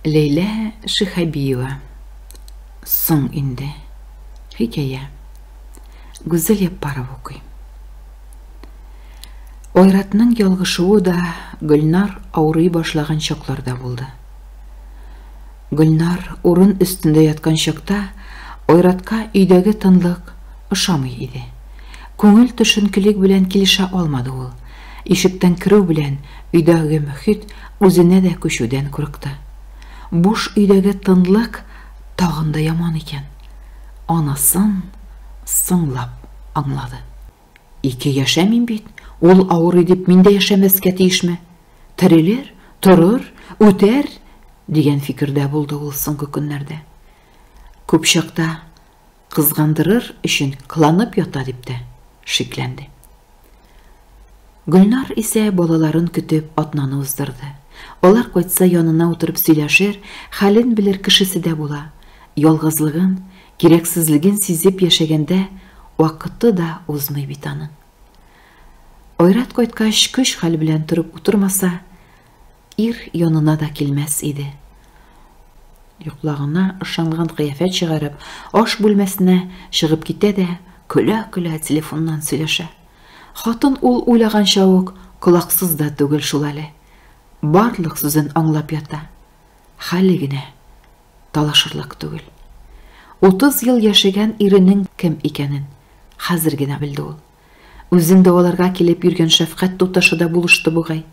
Ләйлә Шиһабиева Соң инде. Хикәя. Гүзәл Яппаров укый. Айратның ялгышуы да Гөлнар авырый башлаган чакларда булды. Гөлнар урын өстендә яткан чакта Айратка өйдәге тынлык ошамый иде. Күңел төшенкелек белән килешә алмады ул. Ишектән керү белән, өйдәге мөхит үзенә дә күчүдән курыкты. Буш өйдәге тынлык тагын да яман икән. Анысын соңлап аңлады. Ике яшәмим бит, ул авырый дип мин дә яшәмәскә тиешме? Терелер, торыр, үтәр, дигән фикердә булды ул соңгы көннәрдә. Күп чакта Кызгандырыр өчен кыланып ята дип тә шикләнде. Гөлнар исә балаларын көтеп атнаны уздырды. Алар кайтса янына утырып сөйләшер, хәлен белер кешесе дә була. Ялгызлыгын, кирәксезлеген сизеп яшәгәндә вакыты да узмый бит аның. Айрат кайткач көч-хәл белән торып утырмаса, Ир янына да килмәс иде. Йоклагына ышанган кыяфәт чыгарып, аш бүлмәсенә чыгып китә дә, көлә-көлә телефоннан сөйләшә. Хатын ул уйлаганча ук колаксыз да түгел шул әле. Барлык сүзен аңлап ята. Хәле генә талашырлык түгел. 30 ел яшәгән иренең кем икәнен хәзер генә белде ул. Үзен дәваларга килеп йөргән шәфкать туташы да булышты бугай.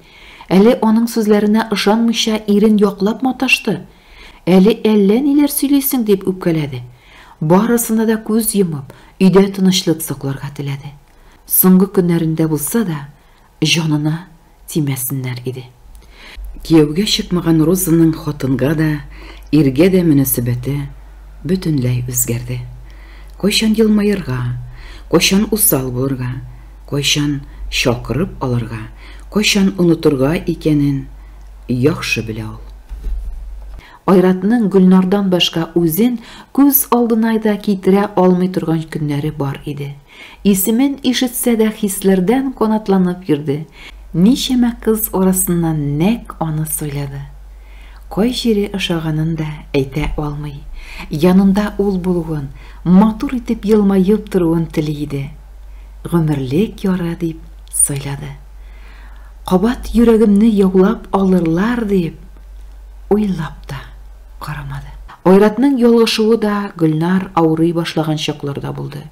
Әле аның сүзләренә ышанмыйча ирен яклап маташты. Әле әллә ниләр сөйлисең дип үпкәләде. Барысына да күз йомып, өйдә тынычлык сакларга теләде. Соңгы көннәрендә булса да, җанына тимәсеннәр иде. Кияүгә чыкмаган Розаның хатынга да, иргә дә мөнәсәбәте бөтенләй үзгәрде. Кайчан елмаерга, кайчан усал булырга, кайчан чакырып алырга, кайчан онытырга икәнен яхшы белә ул. Айратның Гөлнардан башка үзен күз алдына да китерә алмый торган көннәре бар иде. Исемен ишетсә дә хисләрдән канатланып йөрде, ничәмә кыз арасыннан нәкъ аны сайлады. Кай җире ошаганын да әйтә алмый, янында ул булуын, матур итеп елмаеп торуын тели иде. Гомерлек яры дип сайлады. Кабат йөрәгемне яулап алырлар дип уйлап та карамады. Айратның ялгышуы да Гөлнар авырый башлаган чакларда булды.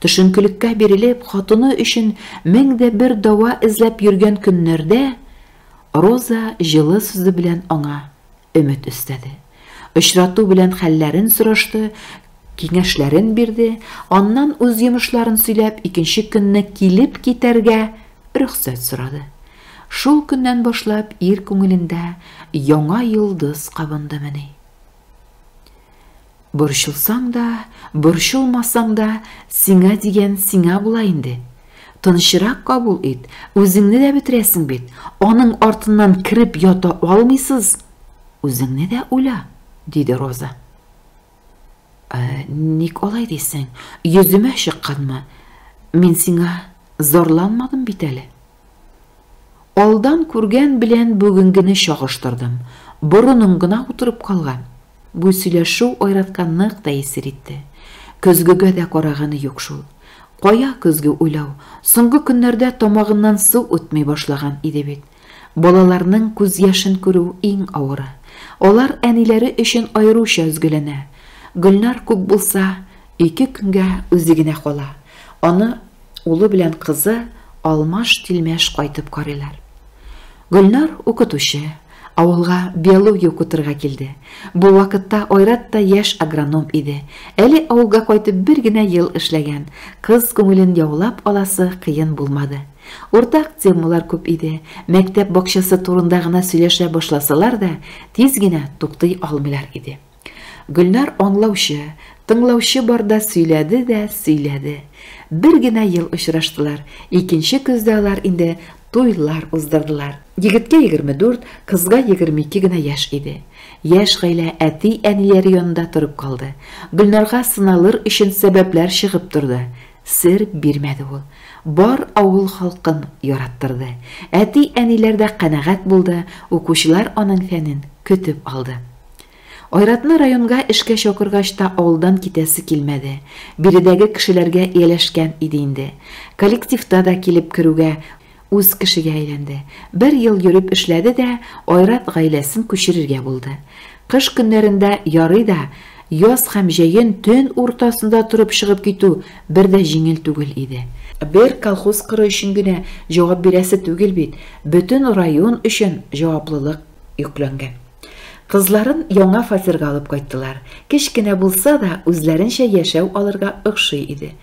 Төшенкелеккә бирелеп, хатыны өчен мең дә бер дава эзләп йөргән көннәрдә Роза җылы сүзе белән аңа өмет өстәде. Очрату белән хәлләрен сорашты, киңәшләрен бирде, аннан үз йомышларын сөйләп, икенче көнне килеп китәргә рөхсәт сорады. Шул көннән башлап ир күңелендә яңа йолдыз кабындымыни? Борчылсаң да, борчылмасаң да, сиңа дигән сиңа була инде. Тынчырак кабул ит, үзеңне дә бетерәсең бит. Аның артыннан кереп ята алмыйсыз. Үзеңне дә уйла, диде Роза. Ә, ник алай дисең? Йөземә чыкканмы? Мин сиңа зарланмадым бит әле. Алдан күргән белән бүгенгене чагыштырдым. Борыным гына утырып калган. Бу сөйләшү Айратка нык тәэсир итте. Көзгегә дә караганы юк шул. Кая көзге уйлау, соңгы көннәрдә тамагыннан су үтми башлаган иде бит. Балаларның күз яшен күрү, иң авыры. Алар әниләре өчен аеруча өзгәләнә. Гөлнар күп булса, ике көнгә үзе генә кала. Аны. Улы белән кызы алмаш-тилмәш кайтып карыйлар. Гөлнар, укытучы, авылга биология укытырга килде. Бу вакытта Айрат та яшь агроном иде. Әле авылга кайтып бер генә ел эшләгән. Кыз күңелен яулап аласы кыен булмады. Уртак темалар күп иде. Мәктәп бакчасы турында гына сөйләшә башласалар да, тиз генә туктый алмыйлар иде. Гөлнар аңлаучы, тыңлаучы барда сөйләде дә сөйләде. Бер генә ел очраштылар, икенче көздә алар инде туйлар уздырдылар. Егеткә 24, кызга 22 генә яшь иде. Яшь гаилә әти-әниләре янында торып калды. Гөлнарга сыналыр өчен сәбәпләр чыгып торды. Сер бирмәде ул. Бар авыл халкын яраттырды. Әти-әниләр дә канәгать булды, укучылар аның фәнен көтеп алды. Айратны районга эшкә чакыргач та авылдан китәсе килмәде. Биредәге кешеләргә ияләшкән иде инде. Коллективта да килеп керүгә, үз кешегә әйләнде. Бер ел йөреп эшләде дә, Айрат гаиләсен күчерергә булды. Кыш көннәрендә ярый да, яз һәм җәен төн уртасында торып чыгып китү бер дә җиңел түгел иде. Бер колхоз кыры өчен генә җавап бирәсе түгел бит, бөтен район өчен җаваплылык. йөкләнгән. Кызларын яңа фатирга алып кайттылар. Кечкенә булса да, үзләренчә яшәү алырга охшый иде.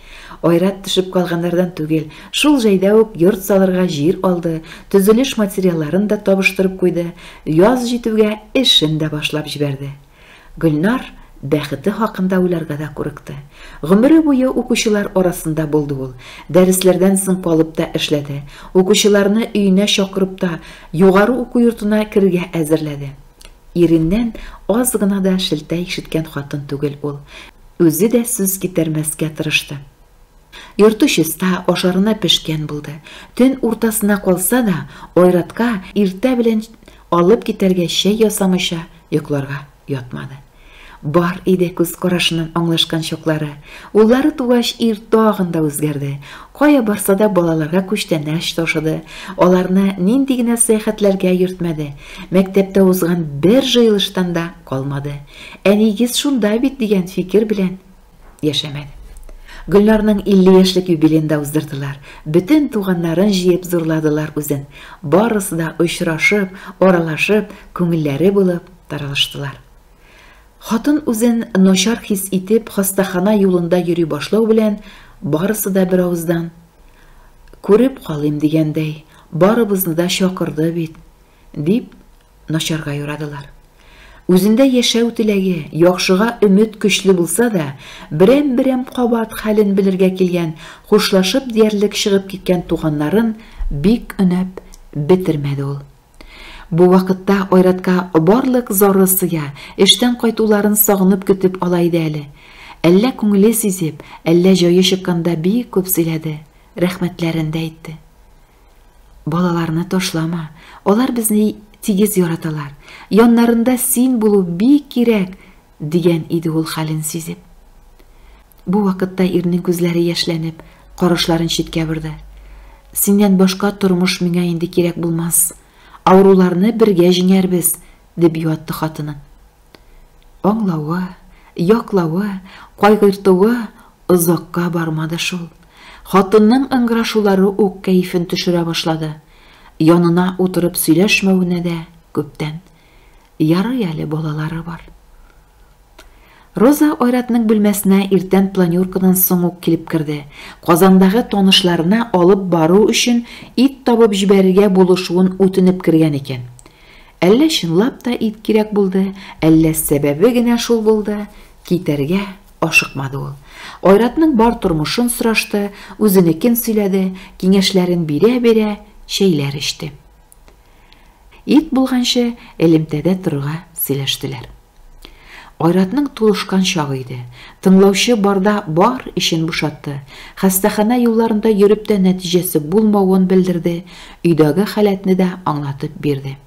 Айрат төшеп калганнардан түгел, шул җайда ук йорт салырга җир алды, төзелеш материалларын да табыштырып куйды, яз җитүгә эшен дә башлап җибәрде. Гөлнар бәхете хакында уйларга да курыкты. Гомере буе укучылар арасында булды ул. Дәресләрдән соң калып та эшләде. Укучыларны өенә чакырып та, югары уку йортына керергә әзерләде. Иреннән аз гына да шелтә ишеткән хатын түгел ул. Үзе дә сүз китермәскә тырышты. Йорты чиста, ашарына пешкән булды. Төн уртасына калса да, Айратка иртә белән алып китәргә чәй ясамыйча йокларга ятмады. Бар иде күз карашыннан аңлашкан чаклары. Уллары тугач, ир тагын да үзгәрде. Кая барса да балаларга күчтәнәч ташыды, аларны нинди генә сәяхәтләргә йөртмәде. Мәктәптә узган бер җыелыштан да калмады. Әнигез шунда бит дигән фикер белән яшәмәде. Гөлнарның 50 яшьлек юбилеенда уздырдылар. Бөтен туганнарын җыеп зурладылар үзен. Барысы да очрашып, аралашып, күңелләре булып таралыштылар. Хатын үзен начар хис итеп, хастахана юлында йөри башлау белән, барысы да беравыздан күреп калыйм дигәндәй, барыбызны да чакырды бит, дип начарга юрадылар. Үзендә яшәү теләге, яхшыга өмет көчле булса да, берәм-берәм кабат хәлен белергә килгән, хушлашып диярлек чыгып киткән туганнарын бик өнәп бетермәде ул. Бу вакытта Айратка барлык зары сыя, эштән кайтуларын сагынып көтеп ала иде әле. Әллә күңеле сизеп, әллә җае чыкканда бик күп сөйләде, рәхмәтләрен дә әйтте. Балаларны ташлама, алар безне тигез яраталар, яннарында син булу бик кирәк, дигән иде ул хәлен сизеп. Бу вакытта ирнең күзләре яшьләнеп, карашларын читкә борды. Синнән башка тормыш миңа инде кирәк булмас. Авыруларны бергә җиңәрбез, дип юатты хатыны. Аңлавы, яклавы, кайгыртуы озакка бармады шул. Хатынның ыңгырашулары ук кәефен төшерә башлады. Янына утырып сөйләшмәвенә дә күптән. Ярый әле балалары бар. Роза Айратның бүлмәсенә иртән планеркадан соң ук килеп керде. Казандагы танышларына алып бару өчен ит табып җибәрергә булышуын үтенеп кергән икән. Әллә чынлап та ит кирәк булды, әллә сәбәбе генә шул булды, китәргә ашыкмады ул. Айратның бар тормышын сорашты, үзенекен сөйләде, киңәшләрен бирә-бирә чәйләр эчте. Ит булганчы элемтәдә торырга сөйләштеләр. Айратның тулышкан чагы иде. Тыңлаучы барда бар эчен бушатты. Хастахана юлларында йөреп тә нәтиҗәсе булмавын белдерде, өйдәге халәтне дә аңлатып бирде.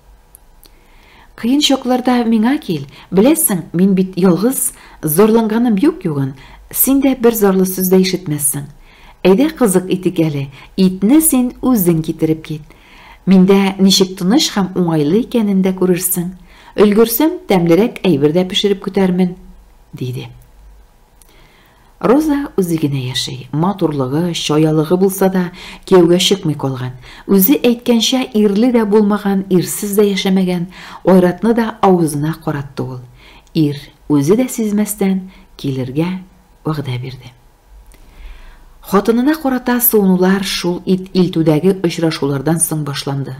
Кыен чакларда миңа кил, беләсең, мин бит ялгыз, зарланганым юк югын, син дә бер зарлы сүз дә ишетмәссең. Әйдә кызык итик әле, итне син үзең китереп кит. Миндә ничек тыныч һәм уңайлы икәнен дә күрерсең. Өлгерсәм, тәмлерәк әйбер дә пешереп көтәрмен, диде. Роза үзе генә яши. Матурлыгы, чаялыгы булса да, кияүгә чыкмый калган. Үзе әйткәнчә, ирле дә булмаган, ирсез дә яшәмәгән, Айратны да авызына каратты ул. Ир, үзе дә сизмәстән, килергә вәгъдә бирде. Хатынына карата суынулар шул ит илтүдәге очрашулардан соң башланды.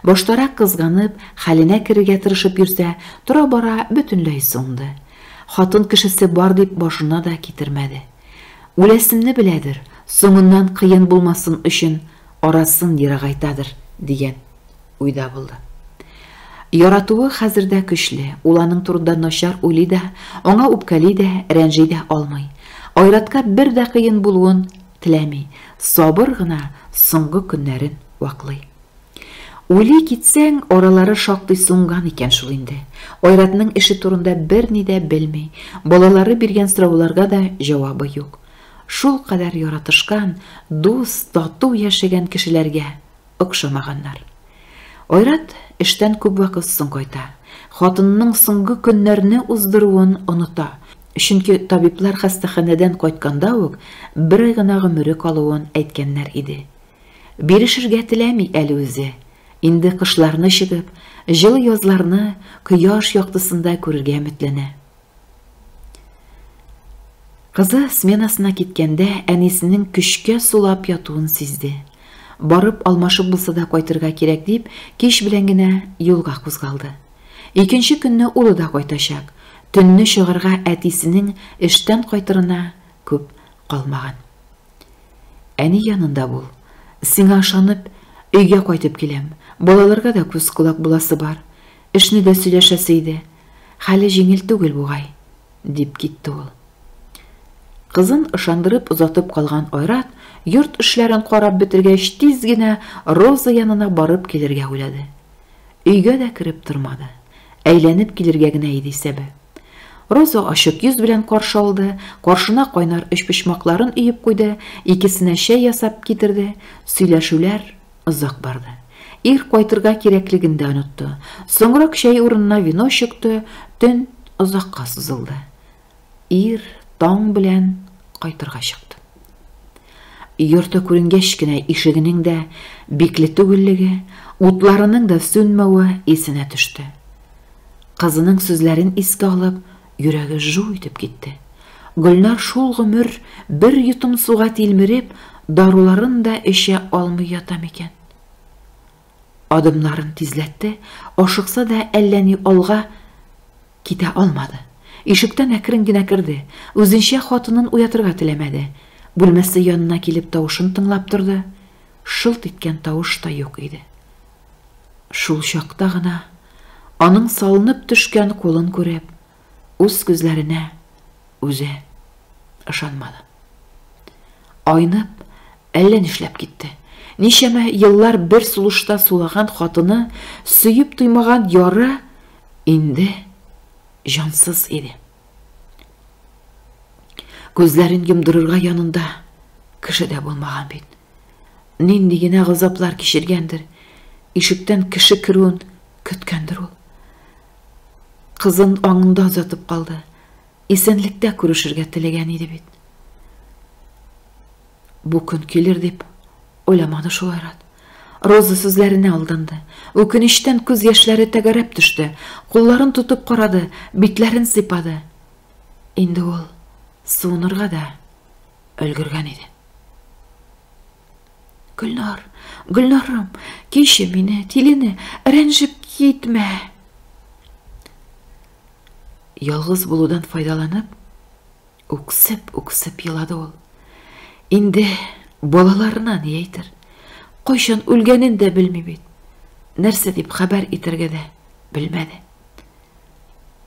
Баштарак кызганып, хәленә керергә тырышып йөрсә, тора-бара бөтенләй суынды. Хатын кешесе бар дип башына да китермәде. Үләсемне беләдер, соңыннан кыен булмасын өчен, арасын ерагайтадыр, дигән. Уйда булды. Яратуы хәзер дә көчле, ул аның турында начар уйлый да, аңа үпкәли дә, рәнҗи дә алмый. Айратка бер дә кыен булуын теләми, сабыр гына соңгы көннәрен ваклый. Уйлый китсәң, аралары шактый сунган икән шул инде. Айратның эше турында берни дә белми, балалары биргән сорауларга да җавабы юк. Шул кадәр яратышкан, дус, тату яшәгән кешеләргә Охшамаганнар. Айрат эштән күп вакыт соң кайта. Хатынының соңгы көннәрне уздыруын оныта, чөнки табиблар хастаханәдән кайтканда ук бер ай гына гомере калуын әйткәннәр иде. Бирешергә теләми әле үзе. Инде кышларны чыгып, җылы язларны кояш яктысында күрергә өметләнә. Кызы сменасына киткәндә әнисенең көчкә сулап ятуын сизде. Барып алмашып булса да кайтырга кирәк дип, кич белән генә юлга кузгалды. Икенче көнне улы да кайтачак. Төнне чыгарга әтисенең эштән кайтырына күп калмаган. Әни янында бул. Сиңа ышанып, өйгә кайтып киләм. Балаларга да күз-колак буласы бар. Эшне дә сөйләшәсе иде, хәле җиңел түгел бугай, дип китте ул. Кызын ышандырып озатып калган Айрат, йорт эшләрен карап бетергәч, тиз генә Роза янына барып килергә уйлады. Өйгә дә кереп тормады. Әйләнеп килергә генә иде исәбе. Роза ачык йөз белән каршы алды, каршына кайнар өчпочмакларын өеп куйды, икесенә чәй ясап китерде. Сөйләшүләр Озак барды. Ир кайтырга кирәклеген дә онытты. Соңрак чәй урынына вино чыкты, төн озакка сузылды. Ир таң белән кайтырга чыкты. Йорты күренгәч кенә ишегенең дә бикле түгеллеге, утларының да сүнмәве исенә төште. Кызының сүзләрен искә алып, Йөрәге жу итеп китте. Гөлнар шул гомер бер йотым суга тилмереп, даруларын да эчә алмый ята микән? Адымнарын тизләтте, ашыкса да әллә ни алга китә алмады. Ишектән әкрен генә керде. Үзенчә хатынын уятырга теләмәде. Бүлмәсе янына килеп тавышын тыңлап торды. Шылт иткән тавыш та юк иде. Шул чакта гына, аның салынып төшкән кулын күреп, үз күзләренә үзе ышанмады. Айнып, әллә нишләп китте. Ничәмә еллар бер сулышта сулаган хатыны, сөеп туймаган яры инде җансыз иде. Күзләрен йомдырырга янында кеше дә булмаган бит. Нинди генә газаплар кичергәндер, ишектән кеше керүен көткәндер ул. Кызын аңында озатып калды. Исәнлектә күрешергә теләгән иде бит. Бу көн килер дип уйламады шул Айрат. Роза сүзләренә алданды. Үкенечтән күз яшьләре тәгәрәп төште. Кулларын тотып карады, битләрен сыйпады. Инде ул суынырга да Өлгергән иде. Гөлнар, Гөлнарым, кеше мине, тилене, рәнҗеп китмә. Ялгыз булудан файдаланып, үксеп, үксеп елады ул. Инде балаларына ни әйтер? Кайчан үлгәнен дә белми бит. Нәрсә дип хәбәр итәргә дә белмәде.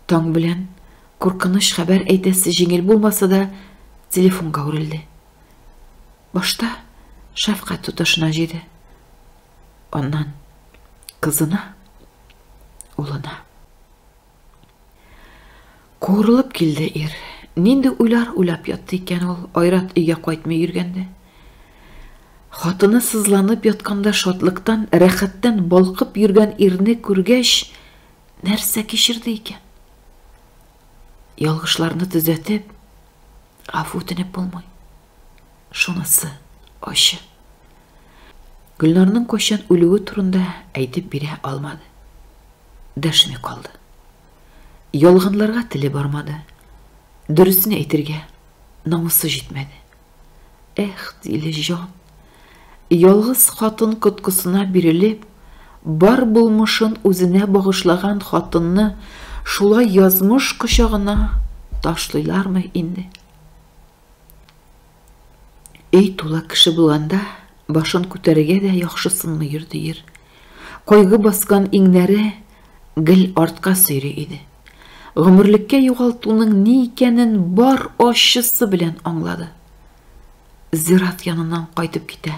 Таң белән Куркыныч хәбәр әйтәсе җиңел булмаса да, телефонга үрелде. Башта шәфкать туташына җиде. Аннан кызына, улына. Куырылып килде ир. Нинди уйлар уйлап ятты икән ул, Айрат өйгә кайтмый йөргәндә. Хатыны сызланып ятканда шатлыктан, рәхәттән балкып йөргән ирне күргәч, нәрсә кичерде икән? Ялгышларны төзәтеп, гафу үтенеп булмый. Шунысы ачы. Гөлнарның кайчан үлүе турында әйтеп бирә алмады. Дәшми калды. Ялганларга теле бармады. Дөресен әйтергә намусы җитмәде. Эх, Дилеҗан, ялгыз хатын коткысына бирелеп, бар булмышын үзенә багышлаган хатынны шулай язмыш кочагына ташлыйлармы инде? Өй тулы кеше булганда, башын күтәрергә дә яхшысынмыйдыр, диер. Кайгы баскан иңнәре гел артка сөйри иде. Гомерлеккә югалтуның ни икәнен бар ачысы белән аңлады. Зират яныннан кайтып китә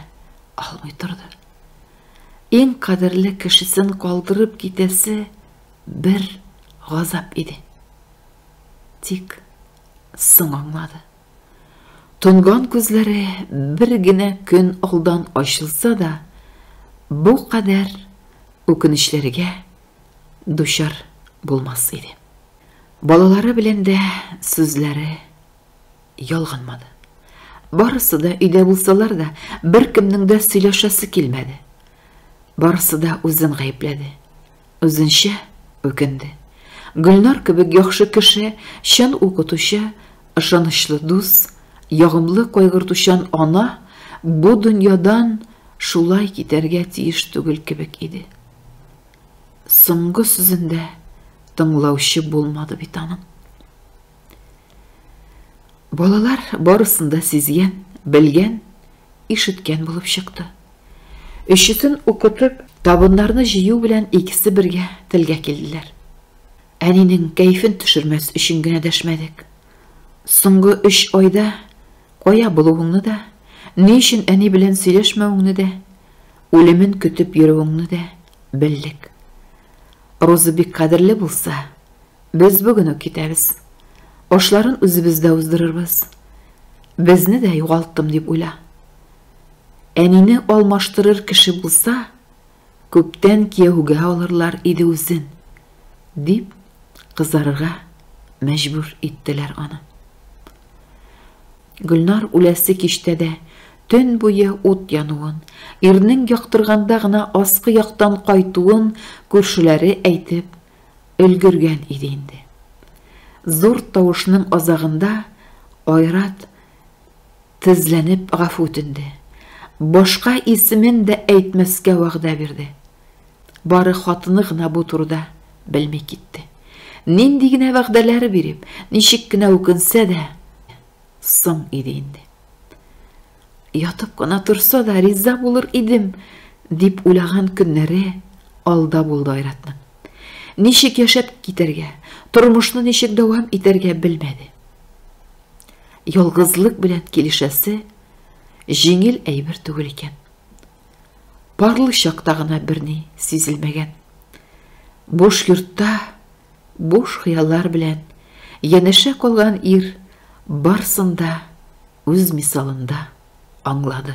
алмый торды. Иң кадерле кешесен калдырып китәсе бер газап иде. Тик соң аңлады. Тонган күзләре бер генә көн алдан ачылса да, бу кадәр үкенечләргә дучар булмас иде. Балалары белән дә сүзләре ялганмады. Барысы да өйдә булсалар да, беркемнең дә сөйләшәсе килмәде. Барысы да үзен гаепләде. Үзенчә үкенде. Гөлнар кебек яхшы кеше, чын укытучы, ышанычлы дус, ягымлы кайгыртучан ана бу дөньядан шулай китәргә тиеш түгел кебек иде. Соңгы сүзендә тыңлаучы булмады бит аның. Балалар барысын да сизгән, белгән, ишеткән булып чыкты. Өчесен укытып, табыннарны җыю белән икесе бергә телгә килделәр. Әнинең кәефен төшермәс өчен генә дәшмәдек. Соңгы өч айда кая булуыңны да, ни өчен әни белән сөйләшмәвеңне дә, үлемен көтеп йөрүеңне дә белдек. Роза бик кадерле булса, Без бүген үк китәбез. Ашларын үзебездә уздырырбыз. Безне дә югалттым дип уйла. Әнине алмаштырыр кеше булса, күптән кияүгә алырлар иде үзен, дип кызарырга мәҗбүр иттеләр аны. Гөлнар үләсе киштә дә төн буе ут януын, ирнең яктырганда гына аскы яктан кайтуын күршеләре әйтеп өлгергән иде инде. Зур тавышның азагында Айрат тезләнеп гафу үтенде. Башка исемен дә әйтмәскә вәгъдә бирде. Бары хатыны гына бу турыда белми китте. Нинди генә вәгъдәләр биреп, ничек кенә үкенсә дә, Соң иде инде. Ятып кына торса да риза булыр идем, дип уйлаган көннәре алда булды Айратның. Ничек яшәп китәргә, тормышны ничек дәвам итәргә белмәде. Ялгызлык белән килешәсе җиңел әйбер түгел икән. Парлы чакта гына берни сизелмәгән. Буш йортта Буш хыяллар белән янәшә калган ир барсын да үз мисалында аңлады.